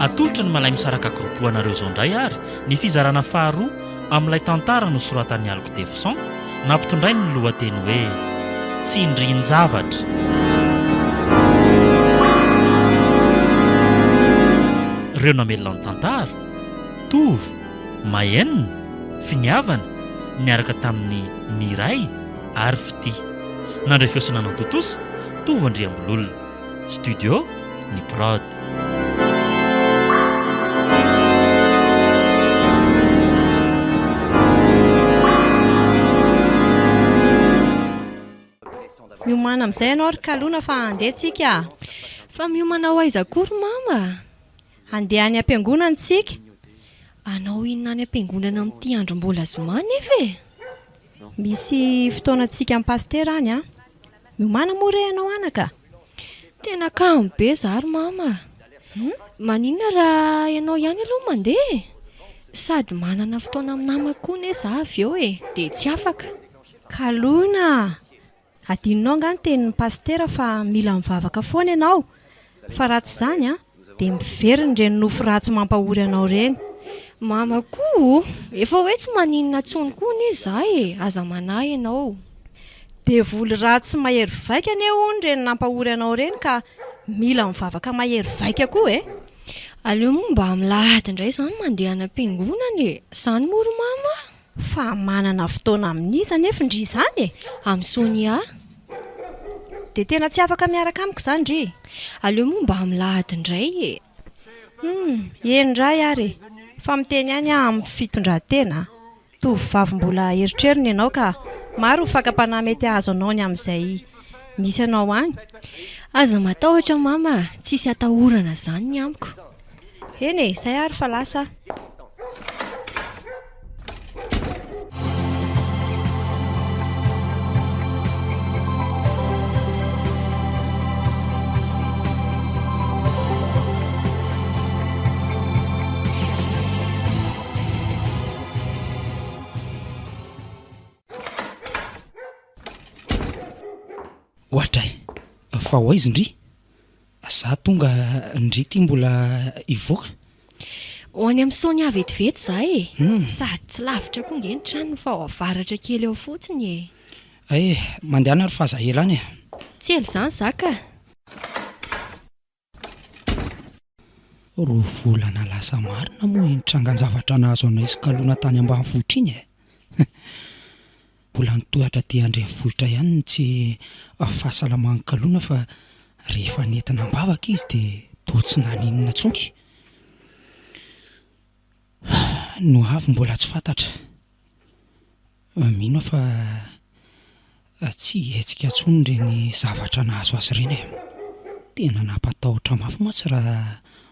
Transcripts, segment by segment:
Atolotry ny Malaimisaraka Groupe anareo izao indray ary ny fizarana faharoa amin'ilay tantara nosoratan'i Alg Defoson nampitondrainy ny lohateny hoe Tsindrin-javatra. Ireo namelona ny tantara, Tovo, Mahenina, Finiavana, niaraka tamin'i Miray, ary fitia. Nandray feo sy nanao tontosa, Tovo Andriambololona. Studio, ny prod. Miomana amin'izay ianao ry Kalona fa handeha tsika a! Fa miomana ho aiza koa ry Mama a! Handeha any am-piangonana tsika. Hanao inona any am-piangonana amin'ity andro mbola zoma nefa e! Misy fotoana antsika am pasitera any an! Miomana moa re ianao anaka a! Tena kamo be za ry mama a! Maninona raha ianao ihany aloha no mandeha e! Sady manana fotoana amin'ny namako koa anie za avy eo e! Dia tsy afaka. Kalona a! Adinonao angaha ny tenin'ny pasitera fa mila mivavaka foana ianao? Fa raha tsy izany an, dia miverina ireny nofo ratsy mampahory anao ireny. Mama koa o! Efa hoe tsy maninona intsony koa anie za e! Aza manahy ianao. Devoly ratsy mahery vaika anie hono ireny nampahory anao ireny ka mila mivavaka mahery vaika koa e! Aleo moa mba milahady indray izany mandeha any am-piangonana e! Izany moa ry mama a! Fa manana fotoana amin'iza anefa ndry izany e? Amin'i Sonia a! Dia tena tsy afaka miaraka amiko izany ndry e! Aleo moa mba milahady indray e! Humm, eny indray ary e! Fa miteny ihany aho amin'ny fitondran-tena a! Tovovavy mbola erotrerony ianao ka maro ny fakam-panahy mety hahazo anao ny amin'izay misy anao any. Aza matahotra mama a! Tsisy atahorana izany ny amiko. Eny e, izay ary fa lasa aho. Ohatray! Fa ho aiza ndry? Za tonga ndry ty mbola hivoaka. Ho any amin'ny Sonia vetivety za e! Sady tsy lavitra koa nge ny tranony fa ao avaratra kely ao fotsiny e! Hay e! Mandehana ary fa aza ela any e! Tsy ela izany za ka! Roa volana lasa marina moa iny trangan-javatra nahazo anay sikaloana tany ambanivohitra iny e! Mbola ny tohatra aty andrenivohitra ihany no tsy fahasalaman'i Kaloana fa rehefa nentina am-bavaka izy dia toa tsy naninona intsony. No avy mbola tsy fantatra. Mino aho fa tsy hihetsika intsony ireny zavatra nahazo azy ireny e. Tena nampatahotra mafy mantsy raha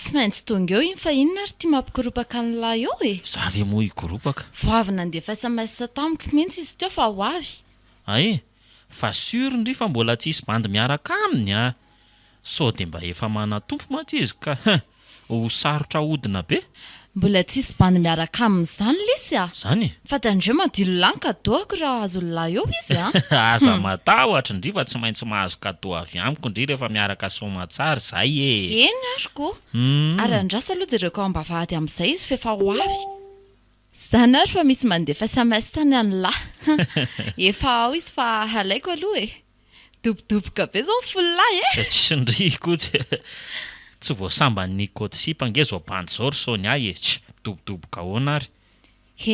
Tsy maintsy tonga eo iny fa inona ary ty mampikoropaka an'lah eo e! Za ve moa hikoropaka? Vao avy nandefa sms tamiko mintsy izy teo fa ho avy. Ae! Fa sur ndry fa mbola tsy hisy bandy miaraka aminy a! Sao dia mba efa manan-tompo mantsy izy ka hein! Ho sarotra ahodina be. Mbola tsisy bande miaraka aminy zany lisy a! Zany e! Fa tandremo an dilo lahy ny kadoako raha azon'ny lahy eo izy a! Aza matahotra ndry fa tsy maintsy mahazo cadeau avy amiko ndry rehefa miaraka soamatsara zay e! Eny ary ko! Ary andraso aloha jereko ao ambavahady amizay izy f'efa ho avy! Zany ary fa misy mandefa sms any any lahy! Efa ao izy fa halaiko aloha e! Dobodoboka be zao ny folo lahy e! Tsy tsindriko etsy e! Tsy voasamban'ny code sipa ange zao bandy zao ry Sonia e! Tch! Midobodoboka ahoana ary?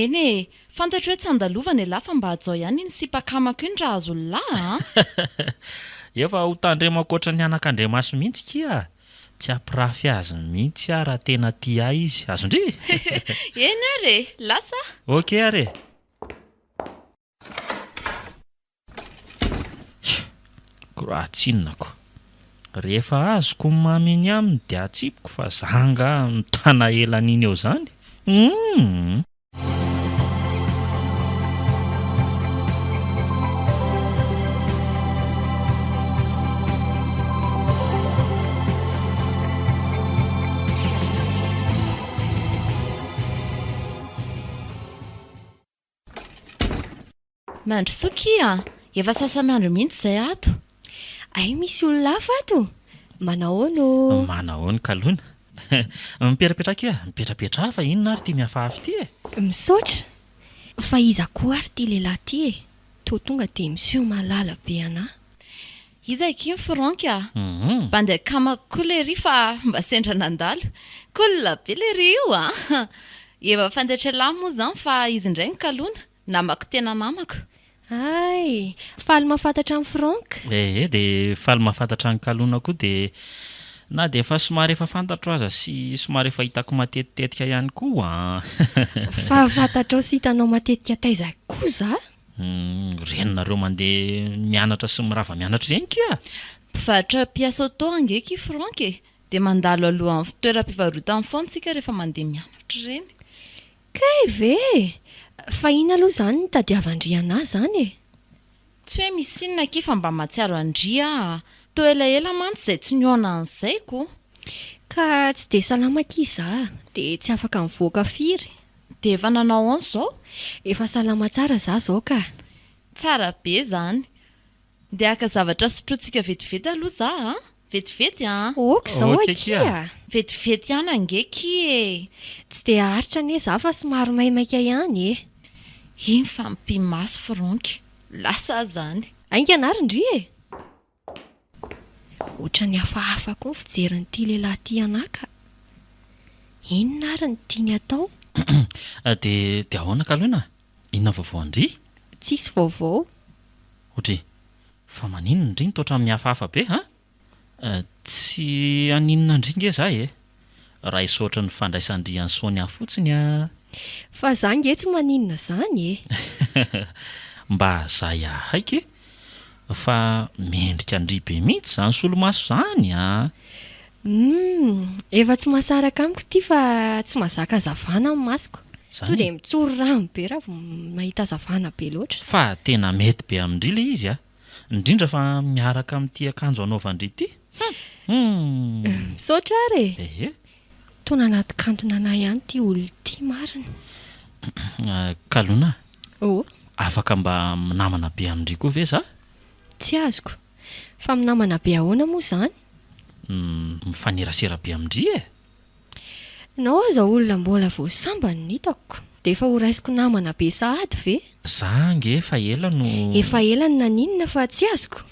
Eny e! Fantatro hoe tsy andalovana elah fa mba hajao ihany iny sipa akamako iny raha azo lelah a! Efa ho tandremako ohatran'ny anakandriamaso mihitsy kia! Tsy hampirafy azy mihitsy aho raha tena tia ahy izy! Azon-dry? Eny ary e! Lasa a! Ok ary e! Raha tsinonako. Rehefa azoko ny mamy eny aminy dia atsipiko fa za angaha mitana ela an'iny eo zany? Humm. Mandrosoa kia a! Efa sasa-miandry mihitsy izay ato. Hay misy olona hafa ato? Manahoana ô? Manahoana ka lona? Mipetrapetra kia, mipetrapetra a! Fa inona ary ity mihafahafa ity e? Misaotra! Fa iza koa ary ity lehilahy ity e? Toa tonga dia miseho malala be anà. Iza akia ny firaonky a? Bandy akamako koa lery fa mba sendra nandalo. Cool be lery io a! Eva Fandetrelahy moa izany fa izy indray no kalona. Namako tena namako. Hay! Faly mahafantatra an'i Franck. Ehe dia faly mahafantatra an'i Kalona koa dia na dia efa somary efa fantatro aza sy somary efa hitako matetitetika ihany koa an! Fa fantatrao sy hitanao matetika taiza koa za? Humm ren'nareo mande mianatra sy mirava mianatra ireny kia! Mpivarotra pièce auto ange ki Franck e! Dia mandalo alohan'ny toeram-pivarotany foana tsika rehefa mandeha mianatra ireny. Kay ve e! Fa inona aloha izany no tadiavan-dry anah izany e! Tsy hoe misy inona ki fa mba mahatsiaro an-dry aho a! Toa elaela mantsy izay tsy nihaona an'izay ko! Ka tsy dia salama ki izaho dia tsy afaka mivoaka firy! Dia efa nanao aon zao? Efa salama tsara za zao ka! Tsara be zany! Ndeha haka zavatra sotrointsika vetivety aloha za a! Vetivety an! Ok zao akia! Vetivety ihany ange ki e! Tsy dia haharitra anie za fa somary maimaika ihany e! Iny fa mipi-maso Franck! Lasa aza any! Haingana ary ndry e! Ohatran'ny hafahafa koa ny fijerin'ity lehilahy ity anà ka! Inona ary no tiany atao? Dia, dia ahoana Kalona? Inona vaovao an-dry? Tsisy vaovao. O-dry! Fa maninona indry no toa ohatran'ny mihafahafa be an! Tsy haninona indry nge izaho e! Raiso ohatran'ny fandraisan-drian'i Sonia fotsiny an! Fa za nge tsy maninona zany e! Mba zay ahaiky e! Fa mendrika an-dry be mihitsy zany solomaso zany an! Humm! Efa tsy mahasaraka amiko ity fa tsy mahazaka hazavana ny masoko. Tonga dia mitsory rano be raha vao mahita hazavana be loatra. Fa tena mety be amin-dry ilay izy an! Indrindra fa miaraka amin'ity akanjo anaovan-dry ity. Hum! Misaotra ary e! Ehe. Toa nanato kantona anah ihany ty ol ty marina. Kalona a! Oh! Afaka mba minamana be amin-dry koa ve za? Tsy azoko. Fa minamana be ahoana moa zany? Mifanerasera be amin-dry e! Nao aza olona mbola vao sambany no hitako dia efa ho raisiko namana be sahady ve? Za ange efa ela no. Efa ela no naninona fa tsy azoko?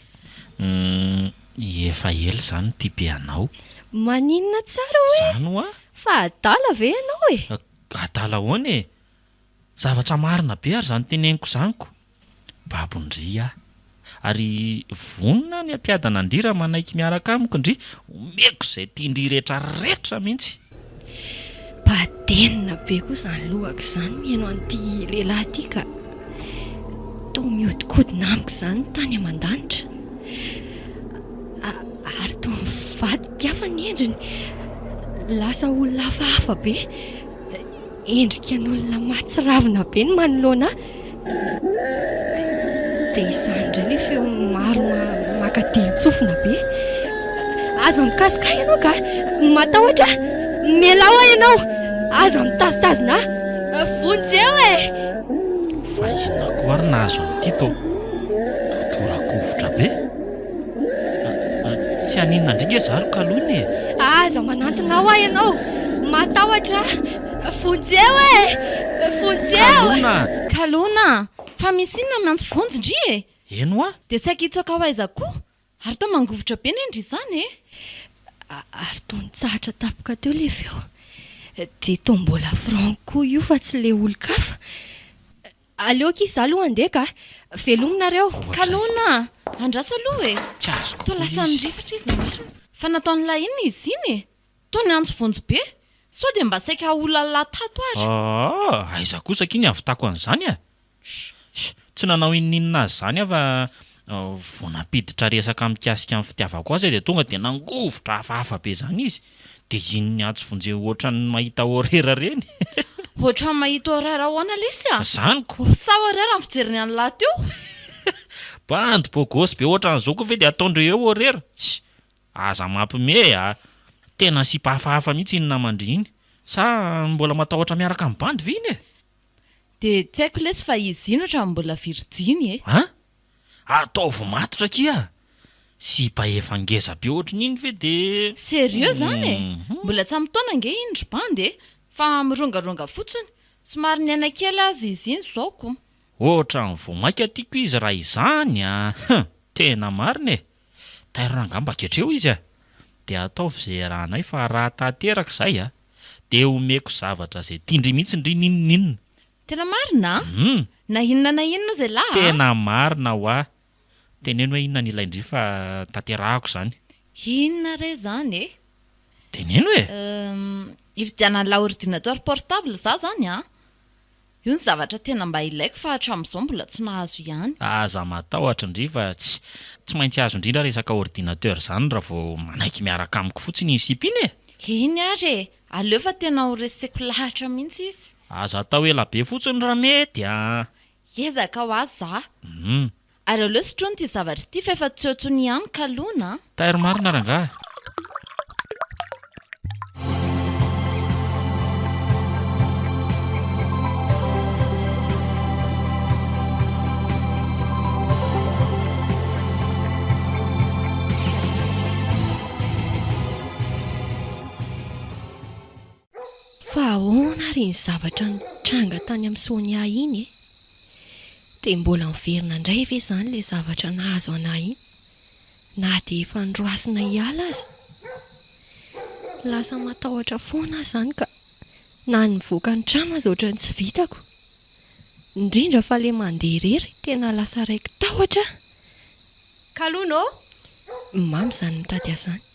Umm efa ela izaho no tia be anao. Maninona tsara hoe? Izany hoa? Fa adala ve ianao e? Adala ahoana e? Zavatra marina be ary izany teneniko izany ko! Babony ry aho. Ary vonona aho ny hampiadana an-dry raha manaiky miaraka amiko ndry. Omeko izay tian-dry rehetra rehetra mihitsy. Badenina be koa izany lohako izany mihaino an'ity lehilahy ity ka. Toa mihodinkodina amiko izany ny tany aman-danitra. Ary toa mivadika hafa ny endriny. Lasa olona hafahafa be. Endrika an'olona mahatsiravina be ny manoloana ahy. Dia izany indray ilay feo maro maka dihin-tsofina be. Aza mikasoka ahy ianao kah! Matahotra aho! Mialao aho ianao! Aza mitazotazona ahy! Vonjeo e! Vahina koa ary nahazo an'ity tô! Totoran-kovitra be! Tsy haninona indray nge za ry kalony e! Aza manantona ahy ianao! Matahotra aho! Vonjeo e! Vonjeo! Kalona! Kalona! Fa misy inona miantso vonjy ndry e! Eny hoa! Dia saika hitsoaka ho aiza koa? Ary toa mangovitra be ne ndry izany e! Ary toa nitsahatra tapoka teo ilay feo. Dia toa mbola Franck koa io fa tsy ilay olon-kafa. Aleo akia za aloha handeha ka. Veloma nareo. Kalona a! Andraso aloha e! Tsy azoko Toa koa lasa izy. nirefatra izy marina. Fa nataon'ilay inona izy iny e? Toa niantso vonjy be. Sao dia mba saika haolalà tato ary. Aa! Aiza kosa akia ny havitako an'izany a! Sh! Tsy nanao inoninona azy izany aho fa vao nampiditra resaka mikasika ny fitiavako azy aho dia tonga dia nangovitra hafahafa be izany izy. De zin ny atsy vonjeo ohatran'ny mahita horera reny. Ohatran'ny mahita horera ahoana lesy a? Zany ko! Sa horera ny fijeriny an'lah teo? Bandy bogosy be ohatran'izao koa ve dia ataondreo eo horera? Tss! Aza mampime a! Tena sipa hafahafa mihitsy iny naman-dry iny. Sa mbola matahotra miaraka amin'ny bandy ve iny e? De tsy haiko lesy fa izy iny ohatran'ny mbola virjiny e! An? Ataovy matotra akia! Sipa efa ngeza be ohatrin'iny ve de. Serieux zany e! Mbola tsy ampy taona ange iny ry bandy e! Fa mirongaronga fotsiny! Somary niaina kely aza izy iny zao kou! Ohatran'ny vao maika tiako izy raha izany a! Hum! Tena marina e! Tairo raha ngamba ketreo izy a! De ataovy ze iarahanay fa raha tanteraka zay a! De omeko zavatra ze tian-dry mihitsy ndry ninoninona! Tena marina an! Hum! Na inona na inona izay la an! Tena marina hoa! Teneno hoe inona ny ilain-dry fa tanterahako izany. Inona re izany e? Teneno e! Hum! Hividianan'la ordinateur portable za izany an! Io no zavatra tena mba ilaiko fa hatramin'izao mbola tsy nahazo ihany. Aza matahotra ndry fa tsy tsy maintsy azo indrindra resaka ordinateur izany raha vao manaiky miaraka amiko fotsiny iny sipa iny e! Eny ary e! Aleo fa tena ho reseko lahatra mihitsy izy. Aza atao ela be fotsiny raha mety a! Hiezaka ho azy za. Humm. Ary aleo sotroina ity zavatra ity fa efa tsy eo intsony ihany ka lona a! Taire marina rangahy. Fa ahoana ary iny zavatra nitranga tany amin'i Sonia iny e? Dia mbola miverina indray ve izany ilay zavatra nahazo an'ahy iny, na dia efa noroasina hiala aza? Lasa matahotra foana aho izany ka na ny mivoaka ny trano aza ohatran'ny tsy vitako. Indrindra fa ilay mandeha irery, tena lasa raiki-tahotra aho. Kalonao? Mamy izany mitady ahy izany.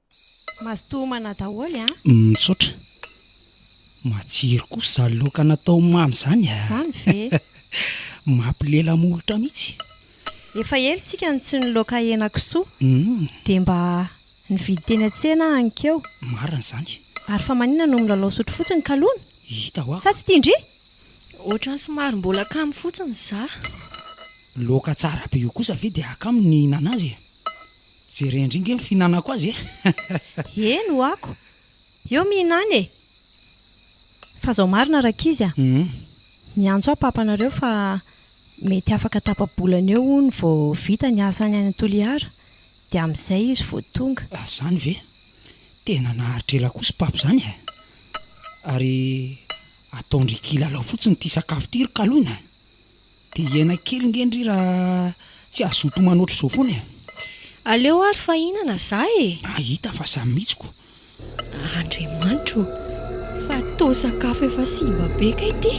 Mazotoa homana daholo an! Misaotra. Matsiro kosa izany laoka natao mamy izany a! Izany ve? Mampilela molotra mihitsy. Efa ela isika no tsy niloaka henakisoa, dia mba nividy teny an-tsena aho hankeo. Marina izany. Ary fa maninona no milalao sotro fotsiny kalona? Hita hoa. Sa tsy tia ndry? Ohatran'ny somary mbola kamo fotsiny izaho. Laoka tsara be io kosa ve dia kamo ny hihinana azy e? Jerendry nge ny fihinanako azy e! Eny ho ako! Eo mihinana e! Fa zao marina rankizy a! Miantso ahy papanareo fa mety afaka tapa-bolana eo hono vao vita ny asany any Toliara dia amin'izay izy vao tonga. Ah zany ve! Tena naharitra ela koa sy papa zany e! Ary ataon-dry kilalao fotsiny ity sakafo ity ry Kaloina a! Dia hiaina kely nge ndry raha tsy hazoto homana ohatr'izao foana e! Aleo ary fa hihinana za e! Hahita fa za mihitsy ko! Andriamanitra o! Fa toa sakafo efa simba be kay ity!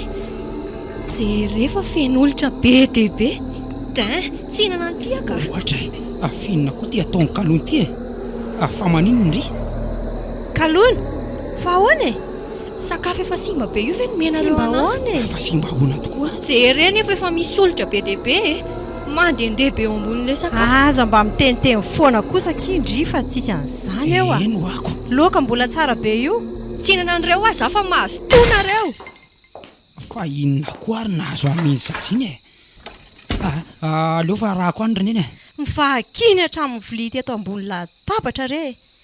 Jereo fa feno olitra be dia be! Dain! Tsy hihinana an'ity aho ka! Ohatra e! Avy inona koa ity ataon'i Kalon ity e! Avy fa maninona ndry? Kalon! Fa ahoana e! Sakafo efa simba be io ve nomenareo anahy? Simba ahoana e? Fa simba ahoana tokoa? Jereo nefa efa misy solitra be dia be e! Mandehandeha be eo ambonin'ilay sakafo. Aza mba miteniteny foana kosa akia ndry fa tsisy an'izany eo a! Heno ako! Loaka mbola tsara be io! Tsinana an'ireo aho za fa mazotoa nareo! Fa inona koa ary nahazo an'iny zaza iny e? Aleo fa arahako any ry neny e! Mivahakiny hatramin'ny vilia teto ambony latabatra re e!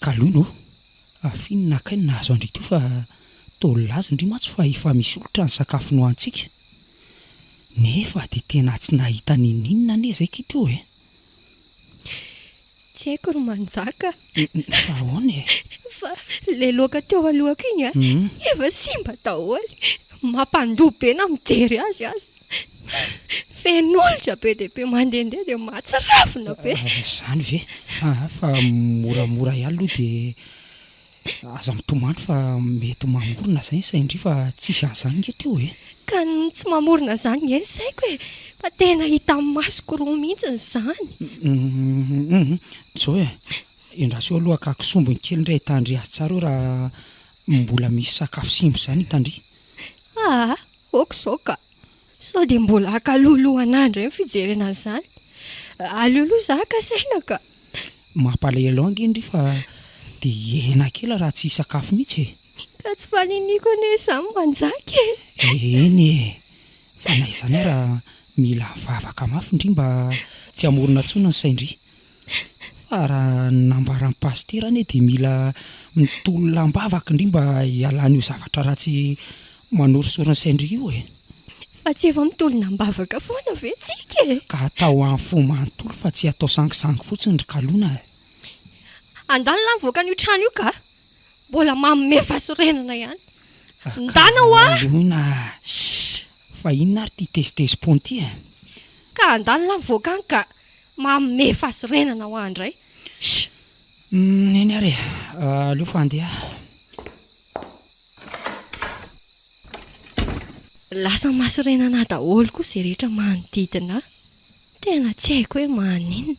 Kalou no, afin naka aina nahazo an-dry toa fa toa nilazn dry mantsy fa efa misy oltra ny sakafo nohanintsika. Nefa dia tena tsy nahita ninoninona anie zay ki toa e! Tsy haiko ry manjaka. Fa ahoana e? Fa le loaka teo alohako iny an, efa simba daholo. Mampandoa be na mijery azy aza. Feno olitra be dia be mandehandeha dia mahatsiravina be. Izany ve? Aa fa moramora ihany aloha dia aza mitomany fa mety mamorona izay ny saina ndry fa tsisy an'izany nge teo e! Ka ny tsy mamorona izany nge ny saiko e! Fa tena hita amin'ny masoko roa mihitsy izany. Hum! Zao e! Endraso eo aloha ka kisombiny kely indray hitandry azy tsara eo raha mbola misy sakafo simba izany hitandry. Aa ok izao ka! Sao dia mbola haka lohalohanà indray ny fijerena an'izany? Aleo aloha izaho haka saina ka! Mampalahelo ange ndry fa dia hiaina kely raha tsy hisakafo mihitsy e! Ka tsy faniniako anie izany manjaka e! Eny e! Fa na izany ara mila vavaka mafy ndry mba tsy hamorona intsony ny sain-dry. Raha ny nambaran'i Pasitera anie dia mila mitolona am-bavaka indry mba hialan'io zavatra ratsy manorisory ny sain-dry io e. Fa tsy efa mitolona am-bavaka foana ve tsika e? Ka atao amin'ny fo manontolo fa tsy atao sangisangy fotsiny ry kalona e. Andalo lahy mivoaka an'io trano io ka! Mbola manome fasorenana ihany. Ndana hoa! Kalona! Shh! Fa inona ary ity tezitezi-pony ity e? Ka handalo la mivoaka any ka manome fahasorenana ho ahy indray. Shh! Neny ary e! Aleo fa handeha aho. Lasa mahasorenana ahy daholo koa izay rehetra manodidina ahy. Tena tsy haiko hoe maninona.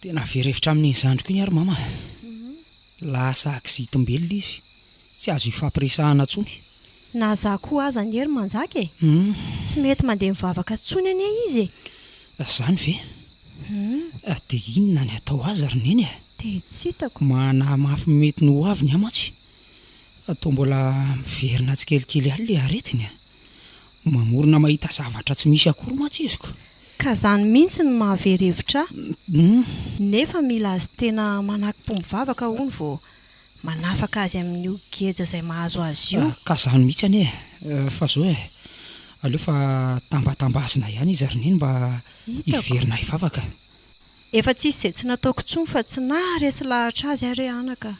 Tena very hevitra amin'iny zandriko iny ary mama a! Lasa aksidim-belona izy, tsy azo ifampiresahana intsony. Na za koa aza anie ry Manjaka e! Tsy mety mandeha mivavaka intsony anie izy e! Zany ve? Dia inona ny atao azy ry Neny a? Dia tsy hitako. Manahy mafy ny mety ny ho aviny aho mantsy fa toa mbola miverina tsikelikely ihany ilay aretiny a! Mamorona mahita zavatra tsy misy akory mantsy izy ko! Ka zany mintsy no mahavery hevitra ahy, nefa mila azy tena manakpombo vavaka hono vao manafaka azy amin'io geja zay mahazo azy io. Ka zany mihitsy anie eh! Fa zao eh! Aleo fa tambatambazina ihany izy ry neny mba hiverina hivavaka. Efa tsisy izay tsy nataoko intsony fa tsy naha resy lahatra azy ary hoe anaka.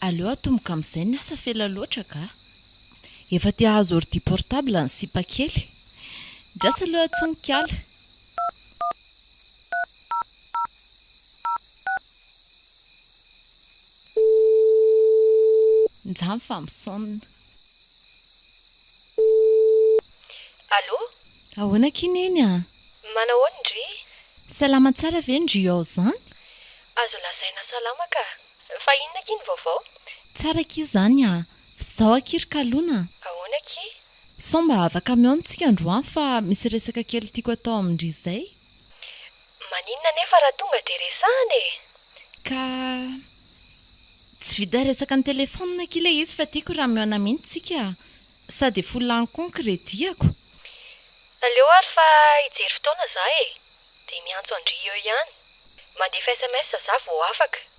Aleo atomboka amin'izay ny asa fa ela loatra kah! Efa te hahazo ordi portable ny sipa kely. Ndraso aloha Tsonika ala. Njaho fa misonona. Allo? Ahoana akia Neny a! Manao ahoana ndry? Salama tsara ve ndry ao zany? Azo lazaina salama ka. Fa inona akia ny vaovao? Tsara akia zany a! Zao akia ry kalona a! Ahoana akia? Sao mba hava kamiaona tsika androany fa misy resaka kely tiako atao amin-dry izay? Maninona anefa raha tonga dia resahana e! Ka tsy vita resaka an-telefaonina akia ilay izy fa tiako raha mihaona mihitsy tsika sa dia fo lany koa ny credit-ako? Aleo ary fa hijery fotoana za e! Dia miantso an-dry eo ihany. Mandefa sms za vao afaka.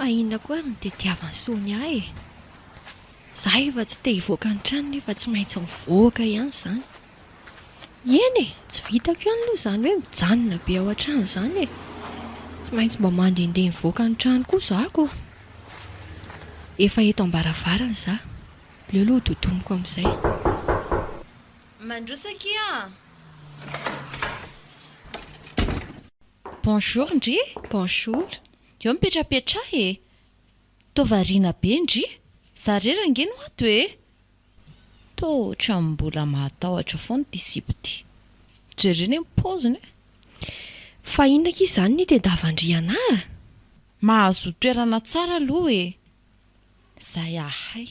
Fa inona koa ary no tediavan'i Sonia e? Za efa tsy te hivoaka ny trano nefa tsy maintsy mivoaka ihany zany. Eny e, tsy vitako ihany aloha zany hoe mijanona be ao an-trano zany e. Tsy maintsy mba mandehandeha mivoaka ny trano koa za ko. Efa eto am-baravarana za, aleo aloha hododoniko amin'izay. Mandroso akia a! Bonjour ndry! Bonjour! Eo mipetrapetraha e! Toa variana be ndry! Za rery ange no ato e! Toa ohatran'ny mbola mahatahotra foana ity sipa ity. Jereo anie ny paoziny e! Fa inona akia izany ny tendavandriana a! Mahazoa toerana tsara aloha e! Zay ahay.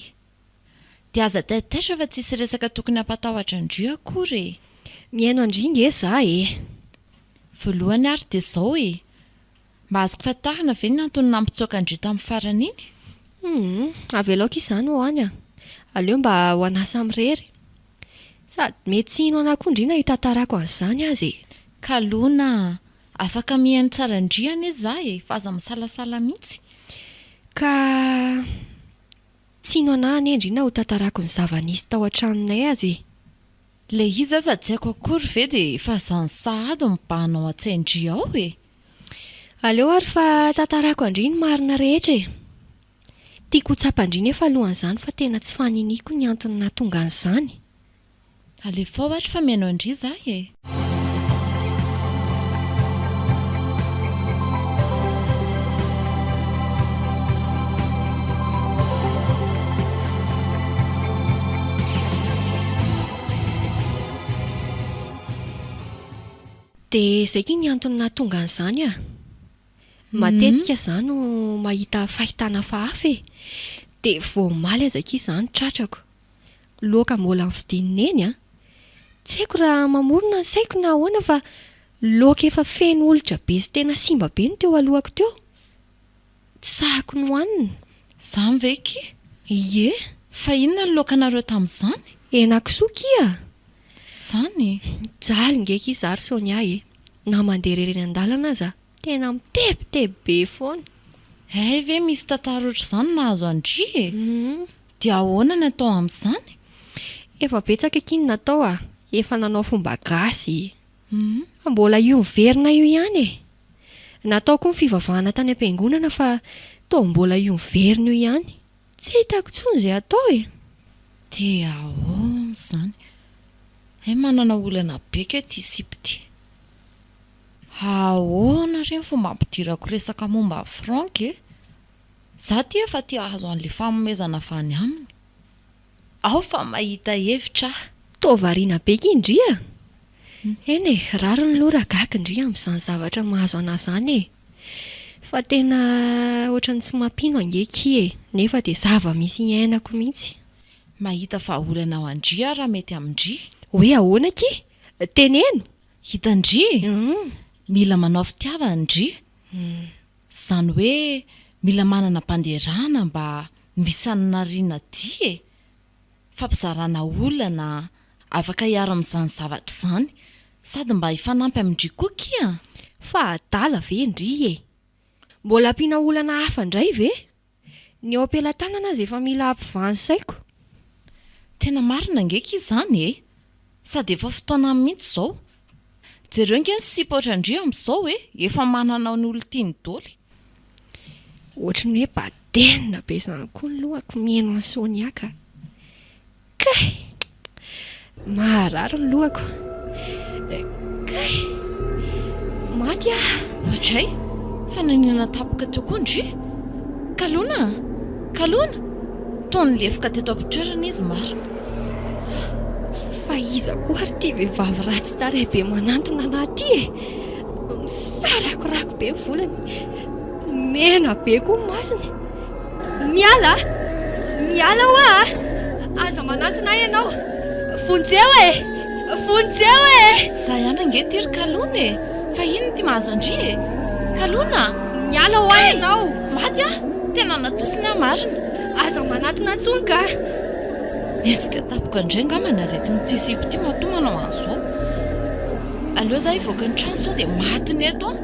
Dia aza taitaitra fa tsisy resaka tokony hampatahotra an-dry akory e! Mihaino an-dry nge za e! Voalohany ary dia izao e! Mba azoko fantarina ve ny antony nampitsoaka an-dry tamin'ny farany iny? Humm! Avela aoka izany ho any a! Aleo mba ho anà samirery! Sady mety tsy hino anà koa ndry na hitantarako an'izany aza e! Kalona a! Afaka mihaino tsara an-dry anie za e! Fa aza misalasala mihitsy! Ka Tsino anah anie ndry na ho tantarako ny zava nisy tao an-tranonay aza e! Ilay izy aza tsy haiko akory ve dia efa izany sahady mibahana ao an-tsain-dry ao e! Aleo ary fa tantarako an-dry ny marina rehetra e! Tiako ho tsapan-dry nefa alohan'izany fa tena tsy faniniako ny antony nahatonga an'izany. Alefao ary fa mihaino an-dry za e! Dia izay gie ny antony nahatonga an'izany a! Matetika izaho no mahita fahitana hafahafa e! Dia vao omaly aza gie izaho no tratrako. Loaka mbola novidian'i Neny an! Tsy haiko raha mamorona ny saiko na ahoana fa loaka efa feno olitra be sy tena simba be no teo alohako teo. Tsy sahiko nohanina. Zany ve ki? Ie! Fa inona ny loakanareo tamin'izany? Henakisoa ki a! Zany? Jaly nge ki za ry Sonia e! Na mandeha irery eny an-dalana aza, tena mitebiteby be foana. Hay ve misy tantara ohatr'izany nahazo an-dry e! Hum! Dia ahoana ny atao amin'izany? Efa betsaka akia ny natao a! Efa nanao fomba gasy e! Fa mbola io miverina io ihany e! Natao koa ny fivavahana tany am-piangonana fa toa mbola io miverina io ihany. Tsy hitako intsony izay atao e! Dia ahoana izany? Hay manana olana be kay ity sipa ity! Ahoana re ny fomba ampidirako resaka momba ny franc e? Za ty efa te hahazo an'le fanomezana avy any aminy aho fa mahita hevitra aho. Toa variana be ky ndry a! Eny e, rariny loha raha gaga ndry amin'izany zavatra mahazo anah izany e! Fa tena ohatran'ny tsy mampino ange ky e! Nefa dia zava-misy iainako mihitsy. Mahita vahaolana ao an-dry aho raha mety amin-dry. Hoe ahoana ky? Teneno! Hitan-dry e! Mila manao fitiavana ndry. Zany hoe mila manana banderana mba misanarina dia e! Fampizarana olana afaka hiaro amin'izany zavatra izany sady mba hifanampy amin-dry koa kia! Fa adala ve ndry e! Mbola ampiana olana hafa ndray ve? Ny eo ampelatanana aza efa mila ampivany saiko. Tena marina ange ki izany e! Sady efa fotoanany mihitsy izao. Jereo ange ny sipa ohatran-dry amin'izao e! Efa manana ny olon-tiany doly. Ohatry ny hoe badenina be izany koa ny lohako mieno an'i Sonia ka. Kay! Maharary ny lohako. Kay! Maty aho. Ajay! Fa naninona tapoka teo koa ny jus? Kalona an! Kalona! Toa nilefoka teto am-pitoerana izy marina. Fa iza koa ary ity vehivavy ratsy tarehy be manantona anà ity e? Misarakorako be ny volony. Mena be koa ny masony. Miala a! Miala hoa a! Aza manantona ahy ianao. Vonjeo e! Vonjeo e! Za ihany ange ty ry Kalona e! Fa inona ity mahazo an-dry e! Kalona a! Miala hoa ianao. Kay! Maty aho! Tena natosiny aho marina. Aza manatona intsony ka! Nihetsika tampoka indray angamba ny aretin'ity sipa ity matoa manao an'izao. Aleo za hivoaka ny trano sao dia maty ny eto an!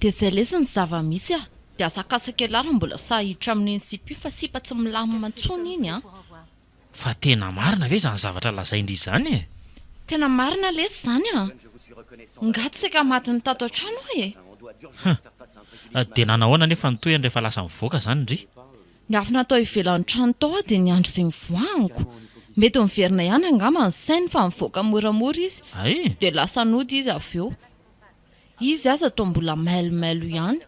Dia zay lesy ny zava misy a! Dia asakasaka ialahy raha mbola sahy hiditra amin'iny sipa iny fa sipa tsy milamina intsony iny an! Fa tena marina ve izany zavatra lazain-dry izany e? Tena marina lesy izany an! Ngah tsy saika matiny tato an-trano aho e! Hum! Dia nanahoana anefa ny tohiny rehefa lasa nivoaka izany ndry? Niafina tao ivelan'ny trano tao aho dia niandry izay nivoahako. Mety niverina ihany angamba ny sainy fa nivoaka moramora izy. Hay! Dia lasa nody izy avy eo. Izy aza toa mbola mailomailo ihany.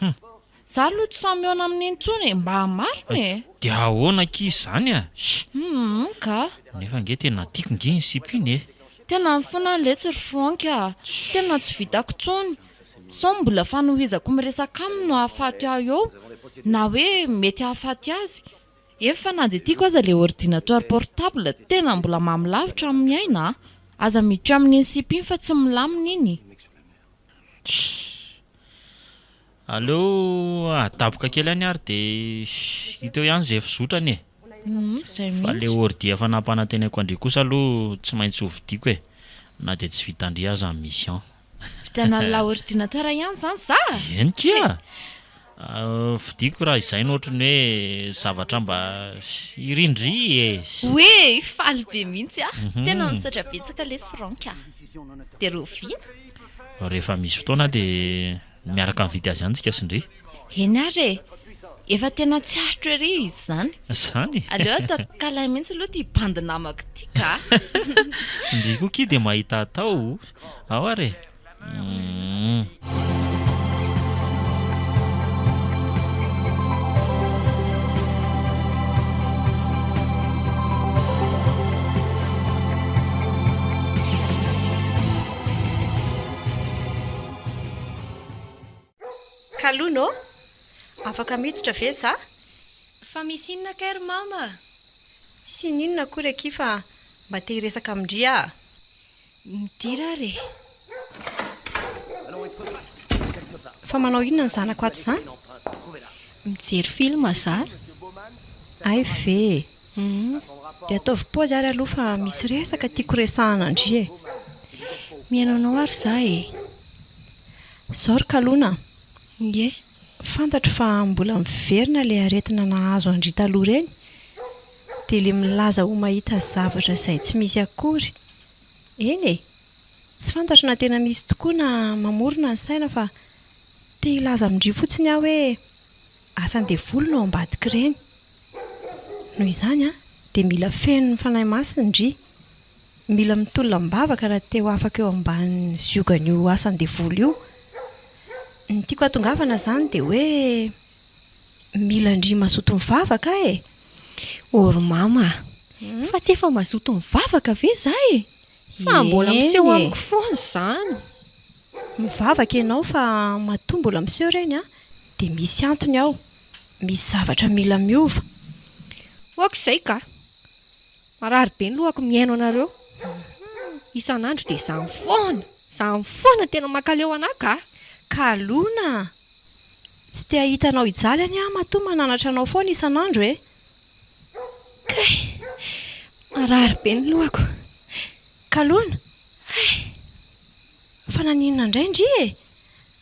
Hum. Za aloha tsy sahy mihaona aminy intsony e, mba marina e! Dia ahoana akia izany a? Shh! Hum ka! Nefa ange tena tiako nge iny sipa iny e! Tena mifona aho letsy ry Franck a! Tena tsy vitako intsony! Sao mbola fanohizako miresaka aminy no ahafaty ahy eo? Na hoe mety hahafaty azy? Ef fa na dia tiako aza le ordinateur portable tena mbola mamy lavitra amin'ny miaina a! Aza miditra amin'iny sip iny fa tsy milamina iny! Chut. Aleo adaboka kely any ary dia hita eo ihany izay fizotrany e! Fa le ordi efa nampanantenaiko andria kosa aloha tsy maintsy hovidiako e! Na dia tsy vitandria aza ny mission. Vitanà la ordinateur ihany izany za a! Eny kia! Fidiko raha izay no ohatran'ny hoe zavatra mba irindry e! Oe! Faly be mihitsy aho! Tena nisaotra betsaka lesy Franck a! Dia rahoviana? Rehefa misy fotoana dia. Miaraka mividy azy any tsika sy ndry. Eny ary e! Efa tena tsy aritro ery izy izany. Zany? Aleo atao câlin mihitsy aloha ity bandy namako ity ka! Ndry koa ki dia mahita atao! Ao ary e! Hum. Kalon ô! Afaka miditra ve za? Fa misy inona kay ry mama? Tsisy ininona akory akia fa mba te hiresaka amin-dry aho. Midira ary e! Fa manao inona ny zanako ato izany? Mijery film za. Hay ve e! Humm. Dia ataovy paozy ary aloha fa misy resaka tiako resahana ndry e! Mihaino anao ary za e! Zao ry kalona a! Ie, fantatro fa mbola miverina ilay aretina nahazo an-dry taloha ireny, dia ilay milaza ho mahita zavatra izay tsy misy akory. Eny e! Tsy fantatro na tena misy tokoa na mamorona ny saina fa. Te hilaza amin-dry fotsiny aho hoe asan'ny devoly no ao ambadik'ireny. Noho izany dia mila fenon'ny Fanahy Masina-dry. Mila mitolona am-bavaka raha te ho afaka eo ambanin'ny ziogan'io asan'ny devoly io. Ny tiako hatongavana izany dia hoe mila an-dry mazoto mivavaka e! Or mama a! Fa tsy efa mazoto mivavaka ve izaho e! Fa mbola miseho amiko foana izany. Mivavaka ianao fa matoa mbola miseho ireny an, dia misy antony ao, misy zavatra mila miova. Hoako izay ka. Marary be ny lohako mihaino anareo. Isan'andro dia izany foana, izany foana no tena mankaleo anà ka. Kalona a! Tsy te hahita anao hijaly anie aho matoa mananatra anao foana isan'andro e! Kay! Marary be ny lohako. Kalona? Hay! Fa naninona indray ndry e!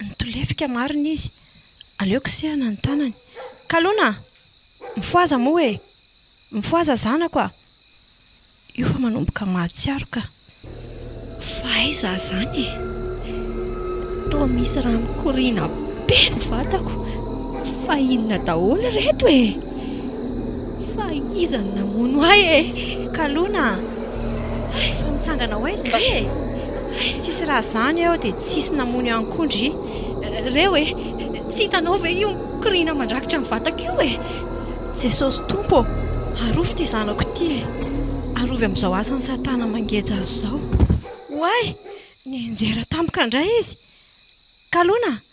Nitolefika marina izy. Aleo kosehana ny tanany. Kalona! Mifohaza moa e! Mifohaza zanako a! Io fa manomboka mahatsiaro ka. Fa aiza aho izany e! Toa misy raha mikoriana be ny vatako. Fa inona daholo ireto e! Fa iza no namono ahy e? Kalona a! Hay fa mitsangana ho aiza re e? Hay tsisy raha zany eo dia tsisy namono ihany koa ndry. Reo e! Tsy hitanao ve io mikoriana mandrakitra ny vatako io e? Jesosy Tompo ô! Arovy ity zanako ity e! Arovy amin'izao asan'i Satana mangeja azy izao. Oay! Nianjera tampoka indray izy. Kalona a!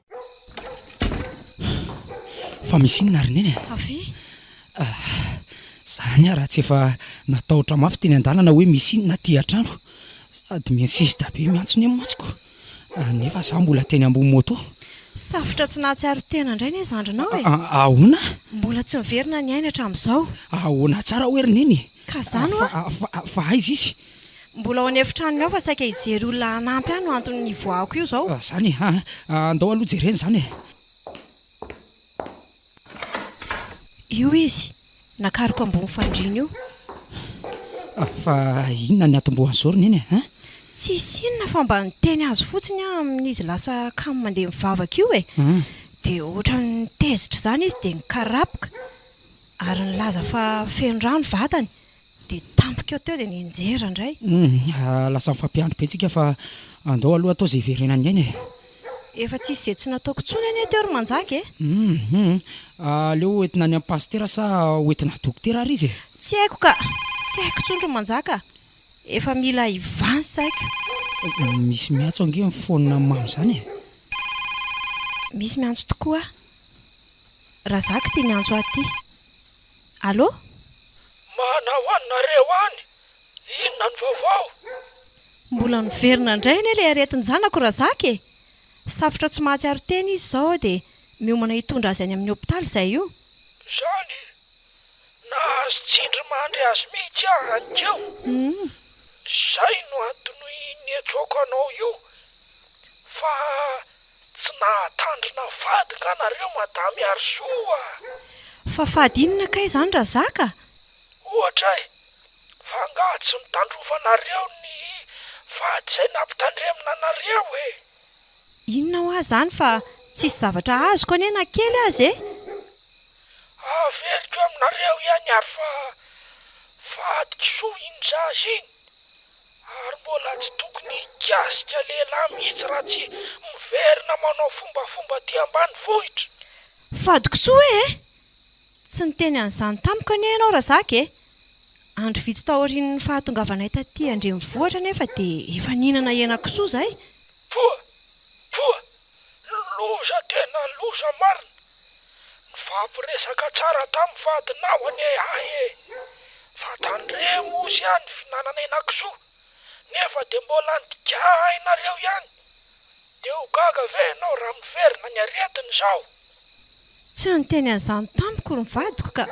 Fa misy inona ary Neny e? Avia! Zany ah, raha tsy efa natahotra mafy teny an-dalana hoe misy inona aty an-trano. Sady mi-insiste be miantsona eo mantsiko, nefa za mbola teny ambony moto. Safotra tsy nahatsiaro tena indray ne zandrinao e! Ahoana? Mbola tsy miverina ny ainy hatramin'izao. Ahoana tsara hoe ry Neny? Ka zany hoa! Fa aiza izy? Mbola ao an'efitranony ao fa saika hijery olona hanampy ahy no antony nivoahako io izao. Izany e! Andao aloha jerena izany e! Io izy, nakaroka ambony fandriana io. Fa inona ny atombohany izao ry Neny e? Tsisy inona fa mba niteny azy fotsiny aho amin'izy lasa kamo mandeha mivavaka io e! Dia ohatran'ny tezitra izany izy dia nikarapoka. Ary nilaza fa feno rà ny vatany dia tampoka eo teo dia nianjera indray. Humm, lasa mifampiandry be tsika fa andao aloha atao izay hiverenan'ny aina e! Efa tsisy izay tsy nataoko intsony anie teo ry Manjaka e! Humm, aleo hoentina any amin'ny pasitera sa hoentina dokotera ary izy e! Tsy haiko ka! Tsy haiko intsony ry Manjaka a! Efa mila hivaha ny saiko. Misy miantso ange mifoanina mamy izany e! Misy miantso tokoa. Razak ty miantso ahy ty. Allô? Manao any nareo any? Inona ny vaovao? Mbola niverina indray anie ilay aretin-janako Razak e! Safotra tsy mahatsiaro tena izy izao aho dia miomana hitondra azy any amin'ny hopitaly izay io. Izany? Nahazo tsindrimandry azy mihitsy aho hanikeo. Izay no anton'ny niantsoako anao io fa Tsy nahatandrina vady nga nareo madame Harisoa a! Fa fady inona kay zany Razaka? Ohatra e! Fa nga tsy nitandrovanareo ny vady zay nampitandremina anareo e! Inona hoa zany fa tsisy zavatra azoko anie na kely aza e! Averiko aminareo ihany ary fa vadikisoa iny za iny! Ary mbola tsy tokony hikasika lehilahy mihitsy raha tsy miverina manao fombafomba aty ambanivohitra. Fadikosoa hoe eh! Tsy niteny an'izany tamiko anie ianao Razaka eh! Andro vitsy taorian'ny fahatongavanay taty an-drenivohitra anefa dia efa nihinana henakisoa izay. Poa! Poa! Loza tena loza marina! Mifampiresaka tsara tamin'ny vadinao anie ahy e! Fa tandremo ozy aho ny fihinanana henakisoa nefa dia mbola nitika ahy nareo ihany! Dia ho gaga ve ianao raha miverina ny aretiny izao? Tsy niteny an'izany tamiko ny vadiko ka!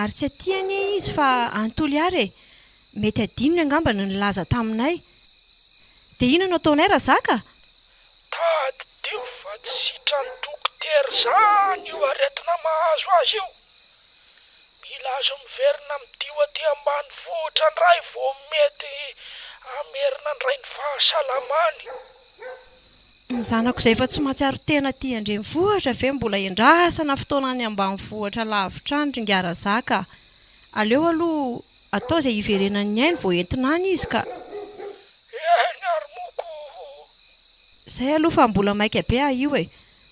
Ary tsy aty anie izy fa any Toliara e! Mety adinony angamba ny nilaza taminay. Dia inona no ataonay raha zaka? Tadidio fa tsy sitran'ny dokotera izany io aretina mahazo azy io. Mila azo miverina midio aty ambanivohitra indray vao mety hamerina indray ny fahasalamany. Ny zanako izay efa tsy mahatsiaro tena aty an-drenivohitra ve mbola endrasana fotoana any ambanivohitra lavitra any ry Ngah Razaka a! Aleo aloha atao izay hiverenan'ny ainy vao entina any izy ka. Ny ainy ary moa koa. Zay aloha fa mbola maika be aho io e!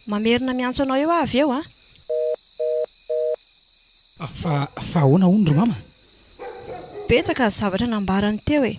Mamerina miantso anao eo aho avy eo an! Fa ahoana hono ry mama? Betsaka ny zavatra nambarany teo e!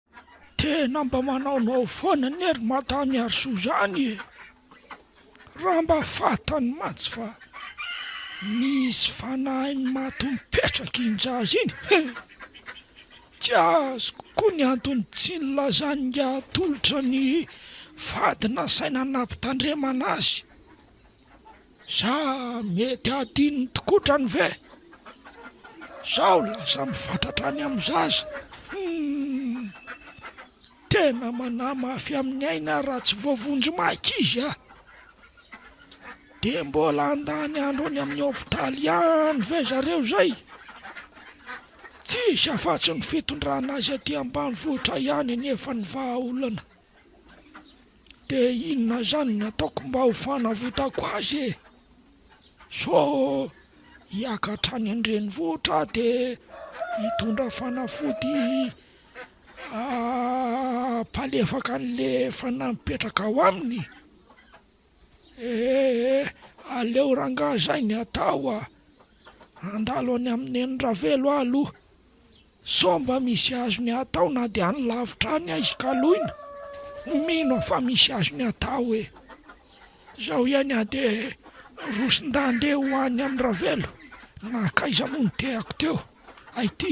Tena mba manaonao foana anie ry Mada Miarisoa izany e! Raha mba fantany mantsy fa misy fanahiny maty mipetraka iny zaza iny he! Tsy azoko koa ny antony tsy nilazany ingahy atolotra ny vady nasaina nampitandremana azy. Sa mety hadinon'ny tikotrany ve? Sao lasa mifatratra any amin'ny zaza? Humm! Tena manamafy amin'ny aina raha tsy voavonjy maika izy a! Dia mbola handany andro any amin'ny hopitaly ihany ve zareo izay? Tsisy afa-tsy ny fitondrana azy aty ambanivohitra ihany anefa ny vahaolana. de inona zany ny ataoko mba ho fanavotako azy e? so hiaka hatrany an-drenivohitra aho de hitondra fanafody hampalefaka an'le efa napetraka ao aminy ee? aleo rangahy zay ny atao a! andalo any amin'i Neny Ravelo aho aloha Sao mba misy azony atao na dia any lavitra any aizy ka loina? Mino aho fa misy azony atao e! Zao ihany aho dia rosin-dahy andeha ho any amin'i Ravelo, nankaiza moa no tehako teo? Ay ty!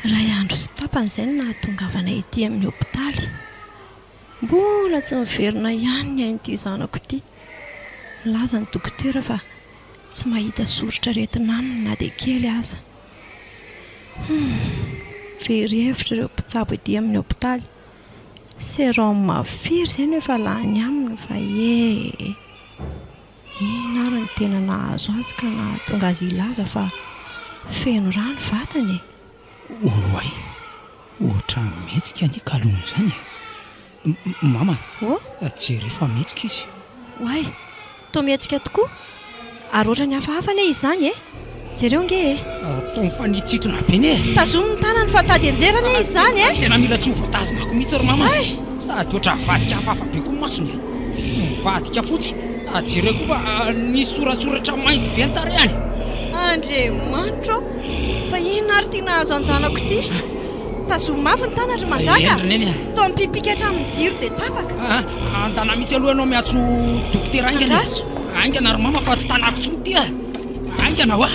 Iray andro sy tapany izay no nahatongavanay ety amin'ny hopitaly. Mbola tsy miverina ihany ny ain'ity zanako ity. Nilaza ny dokotera fa tsy mahita soritr'aretina aminy na dia kely aza. Humm, very hevitra ireo mpitsabo ety amin'ny hopitaly. Sérum firy izay no efa lany aminy va ee. Inona ary no tena nahazo azy ka nahatonga azy hilaza fa feno ra ny vatany e? Oay! Ohatra mihetsika ny kalon'ny izany e! Mama! Oh? Jereo fa mihetsika izy! Oay! Toa mihetsika tokoa! Ary ohatra ny hafahafa anie izy izany e! Jereo ange e! Ataony fa nitsitona be ne! Tazomy ny tanany fa tady hianjera anie izy izany e! Tena mila tsy ho voatazona ako mihitsy ry mama e! Sady ohatra havadika hafahafa be koa ny masony e! Mivadika fotsy, ary jereo koa fa nisy soratsoratra mainty be ny tarehany! Andriamanitra ô! Fa inona ary ity nahazo an-janako ity? Tazomy mafy ny tanany ry Manjaka a! Toa mipipika hatramin'ny jiro dia tapaka! Andana mihitsy aloha ianao miantso dokotera haingana e! Andraso! Haingana ry mama fa tsy tanako intsony ity e! Haingana hoa!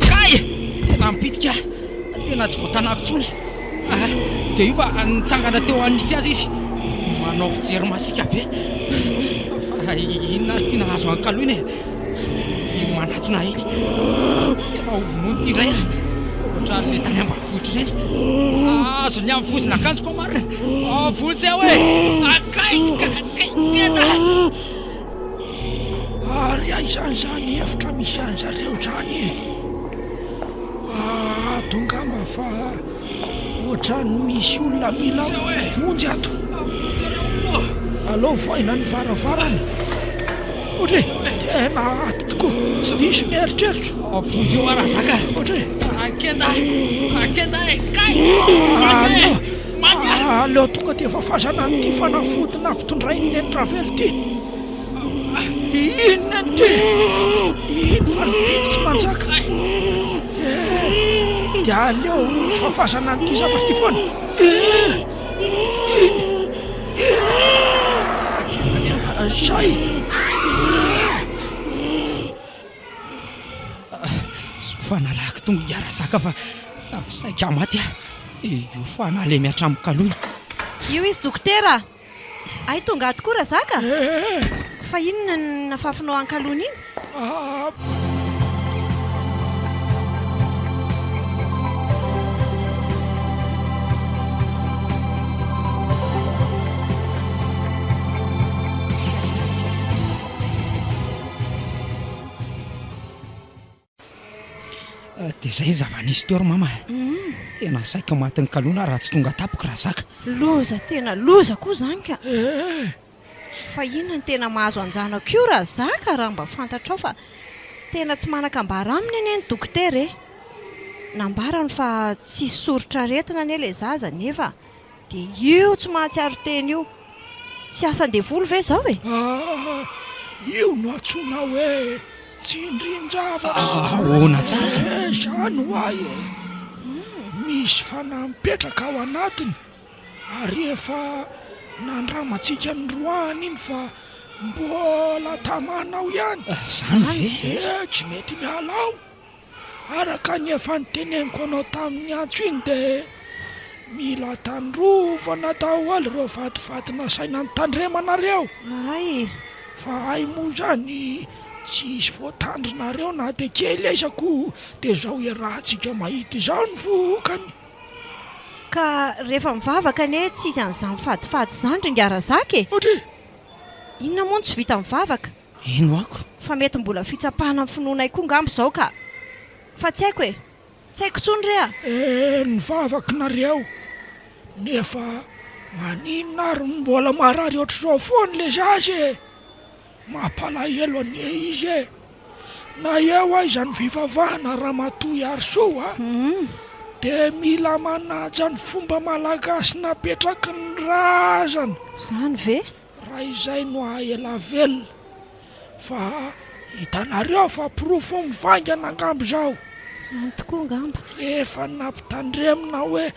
Kay! Tena ampitika aho, tena tsy voatanako intsony ah! Dia io fa nitsangana teo an'ny misy azy izy, manao fijery masiaka be. Fa inona ary ity nahazo an'i Kaloina e? Iny manatona iny. Tena ho vonoiny ity indray aho, ohatran'ilay tany ambanivohitra ireny. Ahazo ny amin'ny vozin'akanjoko aho marina. Vonjy aho e! Kay! Kay! Kay! Kay! Kay! Ary aiza izany efitra misy anzareo izany e? Ato ngamba fa ohatran'ny misy olona mila vonjy ato. Alao voaina ny varavarana. Ohatra hoe tena ato tokoa, tsy diso ny eritreritro. Vonjy eo arazaka. Ohatra hoe. Akenda, akenda e, kay! Aleo tonga dia fafazana an'ity fanafody nampitondrain'i Neny Ravelo ity. Inona ity? Iny fa ny bitiky manjaka. Eh, dia aleo fafazana an'ity zavatra ity foana. Eh, iny, iny. Izay. Soa fa nalahako tongo niara-zaka fa saika maty aho. Io fa nalemy hatramin'ny kaloina. Io izy dokotera a! Hay tonga ato koa Razaka a! Fa inona no nafafinao an-kaloina iny? Ah, dia izay ny zava-nisy teo ry mama a! Hum. Tena saika ho matin'ny kalona aho raha tsy tonga tampoka raha zaka. Loza tena loza koa izany ka! Eh! Fa inona no tena mahazo an-janako io raha zaka raha mba fantatrao fa tena tsy manan-kambara aminy anie ny dokotera e! Nambarany fa tsisy soritr'aretina anie ilay zaza nefa Dia io tsy mahatsiaro tena io, tsy asan-devoly ve izao e? Ah! Io no antsoina hoe tsindrin-javatra. Ahoana tsara? Eh, izany ho ahy e! Misy fanahy mipetraka ao anatiny, ary efa nandramantsika niroahany iny fa mbola tamanao ihany. Izany ve? Eh, tsy mety miala ao. Araka ny efa noteneniko anao tamin'ny antso iny dia mila tandrovana daholo ireo vatovato nasaina nitandremanareo. Ay! Fa ay moa izany tsy hisy voatandrinareo na dia kely aza koa dia izao iarahantsika mahita izao ny vokany. Ka rehefa mivavaka anie tsy hisy an'izany fadifady izany ry Ngarazaka e! Ohatry? Inona moa no tsy vita mivavaka? Heno ako. Fa mety mbola fitsapana ny finoanay koa ngamba izao ka! Fa tsy haiko e! Tsy haiko intsony re a! Eh ny vavako nareo! Nefa maninona ary no mbola marary ohatr'izao foana le zaza e! Mampalahelo anie izy e! Na eo aiza ny fivavahana Ramatoa Iarisoa de mila manaja ny fomba malagasy napetraky ny razana! Zany ve? Raha izay no ahaela velona. Fa hitanareo fa porofo mivaingana angamba izao. Izany tokoa angamba. Rehefa nampitandremina hoe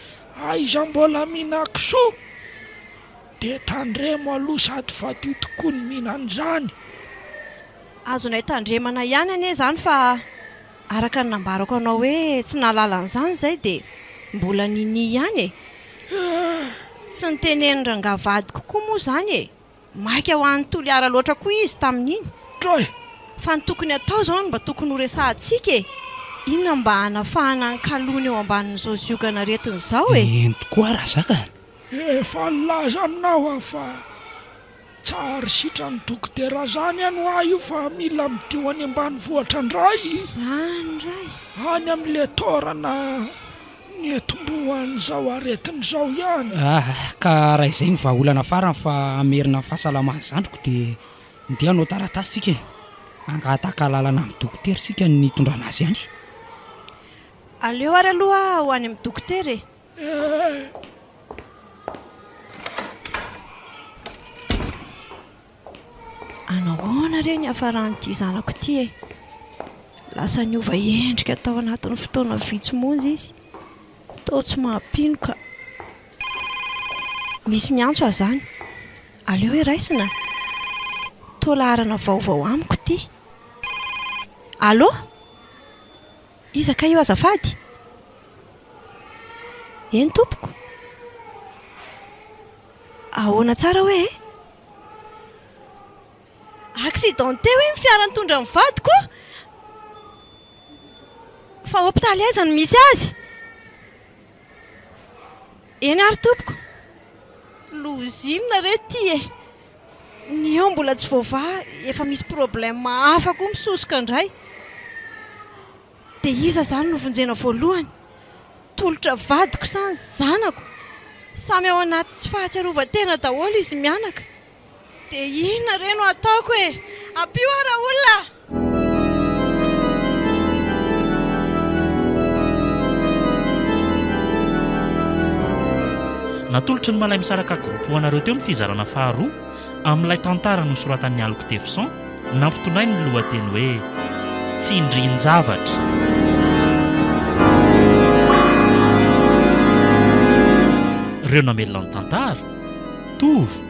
aiza mbola mihinan kisoa dia tandremo aloha sady fadio tokoa ny mihinana izany. Azonay tandremana ihany anie izany fa. Araka ny nambarako anao hoe tsy nahalala an'izany izay dia mbola ninia ihany e! Tsy nitenen'ny rangahy vadiko koa moa izany e! Maika ho any Toliara loatra koa izy tamin'iny. Troy! Fa ny tokony hatao izao no mba tokony ho resahantsika e! Inona mba hanafahana ny kalony eo ambanin'izao ziogan'aretina izao e! Eny tokoa raha zakany! Efa nilaza aminao aho fa. Tsar sitran dokotera zany an hoa io fa mila midio any ambanivohitra ndray zany ndray any am le torana nietombohan zao aretina zao ihany. Ah ka raha izay no vahaolana farany fa hamerina ny fahasalaman'ny zandriko dia ndeha hanao taratasy tsika e! Hangataka alalana amin'ny dokotera isika ny hitondrana azy any. Aleo ary aloha ho any amin'ny dokotera e! Anahoana re ny hiafaran'ity zanako ity e? Lasa niova endrika tao anatin'ny fotoana vitsy monja izy. Toa tsy mampino ka. Misy miantso aho izany. Aleo hiraisina. Toa laharana vaovao amiko ity. Allo? Iza kay io azafady? Eny tompoko. Ahoana tsara hoe e? Accidenté hoe ny fiara nitondra ny vadiko? Fa hopitaly aiza no misy azy? Eny ary tompoko. Lozina re ity e! Ny eo mbola tsy voavaha, efa misy problème hafa koa misosoka indray. Dia iza izany no vonjena voalohany? Tolotra vadiko sa ny zanako? Samy ao anaty tsy fahatsiarovan-tena daholo izy mianaka. Dia inona re no ataoko e? Ampio aho raolona a! Natolotry ny Malay Misaraka Group ho anareo teo ny fizarana faharoa amin'ilay tantara nosoratan'i Alok Tefson nampitondrainy ny lohateny hoe Tsindrin-javatra. Ireo namelona ny tantara, Tova,